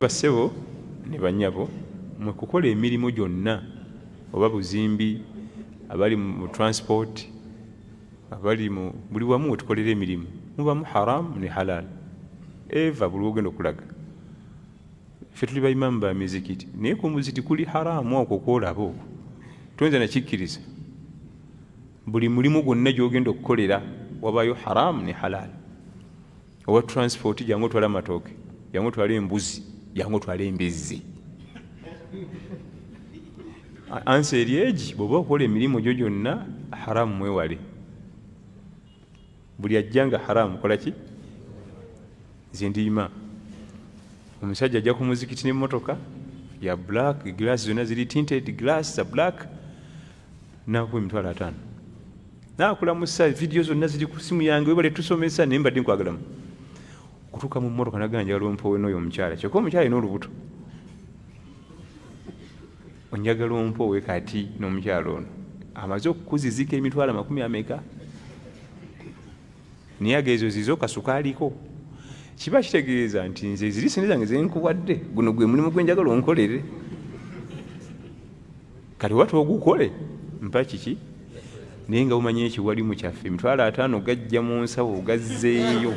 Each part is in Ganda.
Bassebo ne bannyabo, mwe kukola emirimu gyonna oba buzimbi, abali mu transport, abali mu buli wamu wetukolera emirimu mubamu haram ne halal eva buli wogenda okulaga ffe tuli baimamu ba mizikiti naye ku muziti kuli haramu okwo kwolaba okwo toyinza nakikkiriza buli mulimu gwonna gyogenda okukolera wabayo haramu ne halaali owa transport jangu otwala amatooke jangu otwala embuzi jangu otwala embizzi ansa eri egi bweoba okola emirimu gyo gyonna haramu mwewale buli ajja nga haramu kolaki zindiima omusajja ajja ku muzikiti nemotoka ya black glass zonna ziri tinted glass za black nakuwa emitwalo ataano nakulamusa vidiyo zonna ziri ku simu yange webale tusomesa naye mbadde nkwagalamu okutuuka mu mmotoka nagamba njagala ompowe nooyo omukyala kyokka omukyala yina olubuto onjagala ompowe kati n'omukyala ono amaze okukuzizika emitwalo amakumi ameka naye aga ezo zizo kasukaaliko kiba kitegeeza nti nze ziri sente zange zenkuwadde guno gwe mulimu gwenjagala onkolere kati oba twogukole mpa kiki naye nga bumanya ekiwalimu kyaffe emitwalo ataano gajja mu nsawo gazzeeyo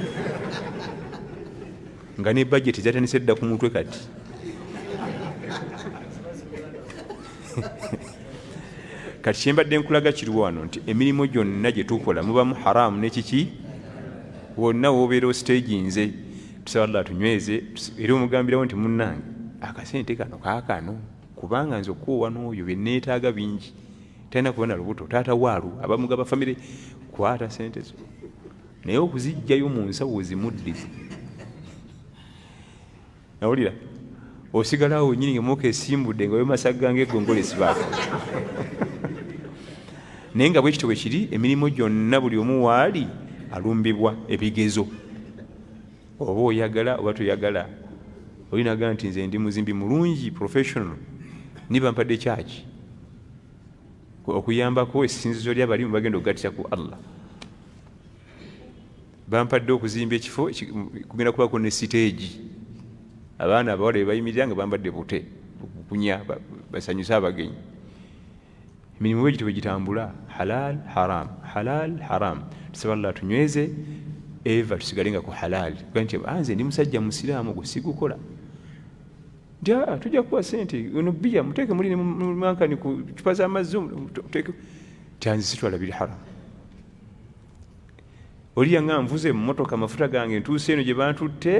nga ne bajeti zatandise dda ku mutwe kati kati kyembadde nkulaga kiri wano nti emirimu gyonna gye tukola mubamu haramu nekiki wonna wobeera ositeegi nze tusaba llah tunyweze era omugambirawo nti munnange akasente kano kakano kubanga nze okuwa n'oyo byenneetaaga bingi talina kuba na lubuto taata waalu abamugaba famire kwata sente zo naye okuzijjayo mu nsawo ozimuddize nawulira osigala awo nyini ngemuka esimbudde nga wemasaga nga egongole esibaako naye nga bwekityo bwe kiri emirimu gyonna buli omu waali alumbibwa ebigezo oba oyagala oba toyagala olinaga nti nze ndi muzimbi mulungi professional niba mpadde kyaki okuyambako esinzizo lyabalimu bagenda okugattira ku allah bampadde okuzimba ekifo kugenda kubako ne siteegi abaana abawala bebayimirira nga bambadde bute okukunya basanyuse abagenyi emirimu bwegito bwegitambula halal haram halal haram tusaba llah tunyweze eva tusigale nga ku halal nti anze ndi musajja musiraamu gwe sigukola nti ah, tujja kuwa sente ono biya muteeke muli nemankani ku cupa z'amazzi tyanzisitwala biri haramu oli yanga nvuze mumotoka amafuta gange ntuuse eno gye bantutte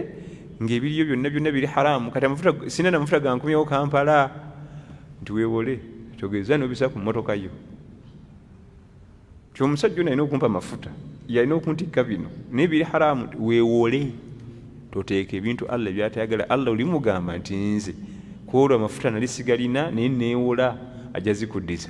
ngaebiriyo byonna byonna biri haramu kati amafuta sina namafuta gankumyawo kampala nti wewole togeza nobisa ku motoka yo ti omusajja ono alina okumpa amafuta yalina okuntikka bino naye biri haramu wewole toteeka ebintu allah byatayagala allah oli mugamba nti nze kwolwo amafuta nali sigalina naye newola ajja zikuddiza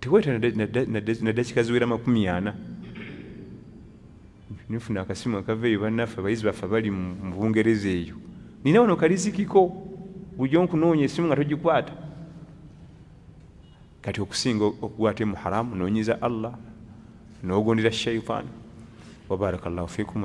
tewayita nadakika ziwera makumi ana nifuna akasimu akava eyo bannaffe abayizi baffe bali mu bungereza eyo nina wano kalizikiko bujo nkunoonya esimu nga togikwata kati okusinga okukwata mu haramu nonyeza allah nogondera shaitan wabaraka llahu fikum